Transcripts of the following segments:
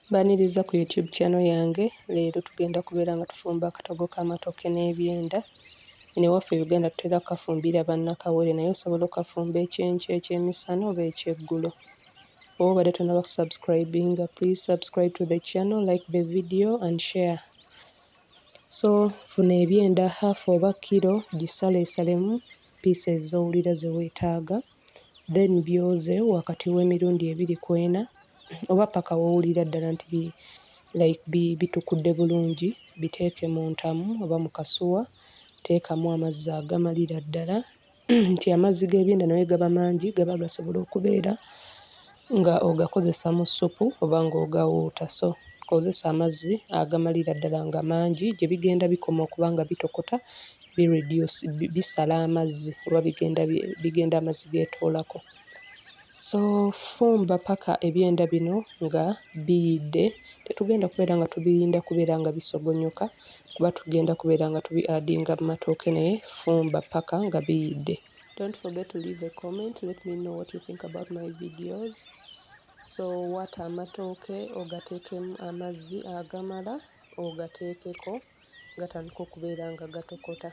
Mbaniriza ku YouTube channel yange leero tugenda kubeera nga tufumba akatogo k'amatooke n'ebyenda. Eno ewaffe Uganda tutera kukafumbira bannakawere naye osobola okukafumba ekyenkya, ekyemisana oba ekyeggulo. Oba obadde tonnaba kusubscribinga please subscribe to the channel, like the video and share. So funa ebyenda half oba kiro gisaleesalemu pieces z'owulira ze weetaaga. then byoze wakati w'emirundi ebiri ku ena oba paka w'owulira ddala nti bi like bi bitukudde bulungi biteeke mu ntamu oba mu kasuwa teekamu amazzi agamalira ddala nti amazzi g'ebyenda naye gaba mangi gaba gasobola okubeera nga ogakozesa mu ssupu oba nga ogawuuta so kozesa amazzi agamalira ddala nga mangi gye bigenda bikoma okuba nga bitokota bi reduce bisala amazzi oba bigenda bigenda amazzi getoolako. So fumba paka ebyenda bino nga biyidde, tetugenda kubeera nga tubirinda kubeera nga bisogonyoka kuba tugenda kubeera nga tubi adinga mu matooke naye fumba paka nga biyidde. Don't forget to leave a comment, let me know what you think about my videos. So waata amatooke ogateekemu amazzi agamala ogateekeko. gatandika okubeera nga gatokota.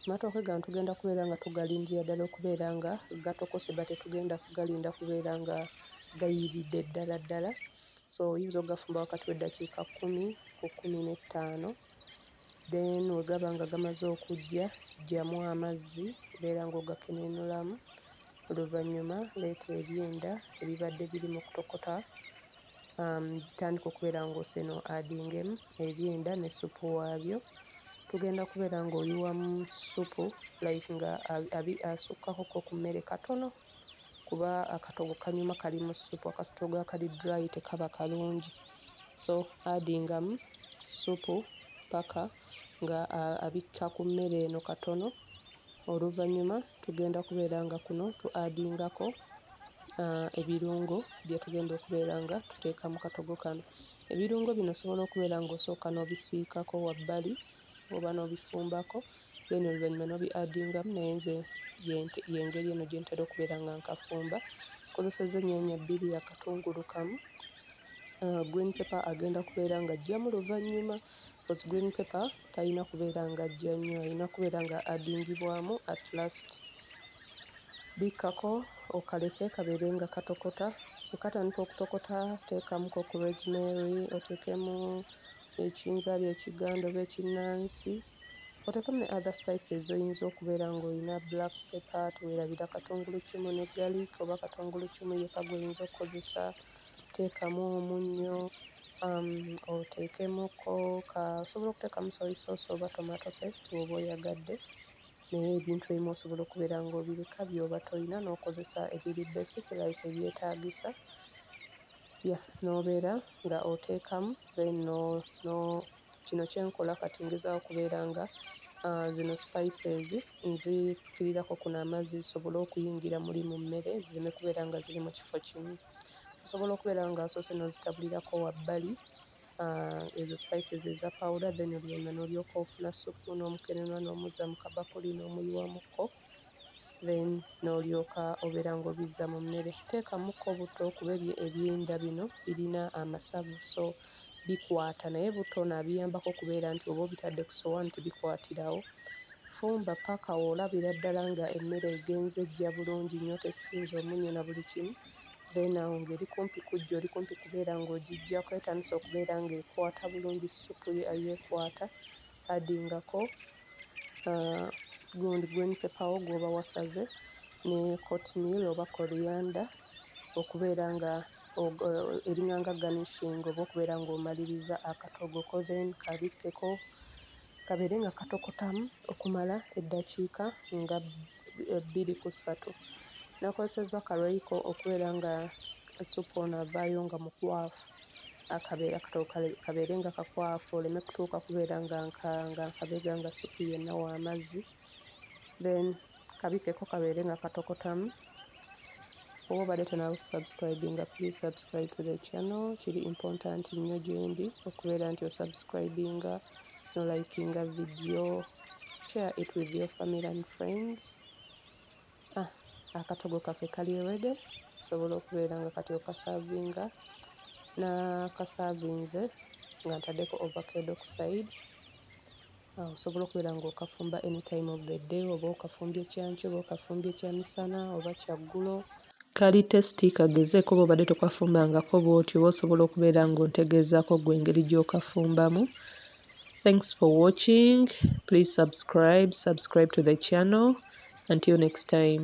Amatooke gano tugenda kubeera nga tugalindira ddala okubeera nga gatokose but tetugenda kugalinda kubeera nga gayiiridde ddala ddala. So oyinza okugafumba wakati w'eddakiika kkumi ku kkumi n'ettaano. Then bwe gaba nga gamaze okuggya, ggyamu amazzi beera ng'ogakenenuulamu. Oluvannyuma leeta ebyenda ebibadde biri mu kutokota. um, tandika okubeera ng'oseno adingemu ebyenda ne supu waabyo tugenda kubeera ng'oyiwamu supu like nga asukkakoko ku mmere katono kuba akatogo kanyuma kali mu supu akasitogo akali dry tekaba kalungi so adingamu supu paka nga abikka ku mmere eno katono oluvannyuma tugenda kubeera nga kuno tu adingako uh, ebirungo byetugenda okubeera nga tuteeka mu katogo kano ebirungo bino osobola okubeera nga osooka n'obisiikako wabbali oba n'obifumbako then oluvannyuma n'obi adingamu naye nze yengeri eno gyentera okubeera nga nkafumba kozeseza ennyanya bbiri akatungulu kamu uh, green paper agenda kubeera nga ajjamu luvannyuma bcause green paper talina kubeera nga ajja nnyo alina kubeera nga adingibwamu at last bikkako okaleke kabeere nga katokota okatandika okutokota teekamuko ku rosemary oteekemu ekinzaali ekiganda oba ekinnansi Oteekemu ne other spices z'oyinza okubeera ng'olina black pepper, teweerabira katunguluccumu ne garlic oba katunguluccumu yekka gw'oyinza okukozesa, teekamu omunnyo, um, oteekemuko ka osobola okuteekamu soy sauce oba tomato paste oba oyagadde naye ebintu ebimu osobola okubeera ng'obireka byoba tolina n'okozesa ebiri basic like ebyetaagisa ya n'obeera nga oteekamu then no, no Kino kye nkola kati ngezaaho okubeera nga zino spices nzikirirako kuno amazzi zisobole okuyingira muli mu mmere zireme kubeera nga ziri mu kifo kimu. Osobola okubeera ng'asoose n'ozitabulirako wabbali ezo spices eza pawuda then oluvannyuma n'olyoka ofuna ssupu n'omukenenwa n'omuzza mu kabakuli n'omuyiwamuko. then n'olyoka obeera ng'obizza mu mmere. Teekamukko butto kuba ebyo ebyenda bino birina amasavu so bikwata naye butto ono abiyambako okubeera nti oba obitadde ku sowaani tebikwatirawo. Fumba paka olabira ddala nga emmere egenze ejja bulungi nnyo tesitinze omunnyo na buli kimu then awo ng'eri kumpi kujja oli kumpi kubeera ng'ogiggyako etandise okubeera ng'ekwata bulungi ssupu yo ekwata addingako gundi uh, green paper wo gwoba wasaze ne court meal oba corianda okubeera nga uh, eringanga garnishing oba okubeera ng'omaliriza akatogo ko then kabikkeko kabeere nga katokotamu okumala eddakiika nga bbiri ku ssatu nakozesezza ka royco okubeera nga essupu ono avaayo nga mukwafu akabeera katobo kabeere nga kakwafu oleme kutuuka kubeera nga nkanga nkabega nga ssupu yenna w'amazzi then kabikeko kabeere nga katokotamu. oba obadde tonaba kusubscribinga please subscribe to the channel kiri important nnyo gyendi okubeera nti osubscribinga nolikinga video share it with your family and friends ah, akatogo kaffe kali rede sobola okubeera nga kati okasavinga nakasavinze nga ntadeko overcade okuside Osobola okubeera ng'okafumba any time of the day oba okafumbye kyankyo oba okafumbye kyamisana oba kyaggulo. Kali testi kagezeeko oba obadde tokafumbangako bw'otyo oba osobola okubeera ng'ontegeezaako gwe engeri gy'okafumbamu. Thanks for watching. Please subscribe, subscribe to the channel. Until next time.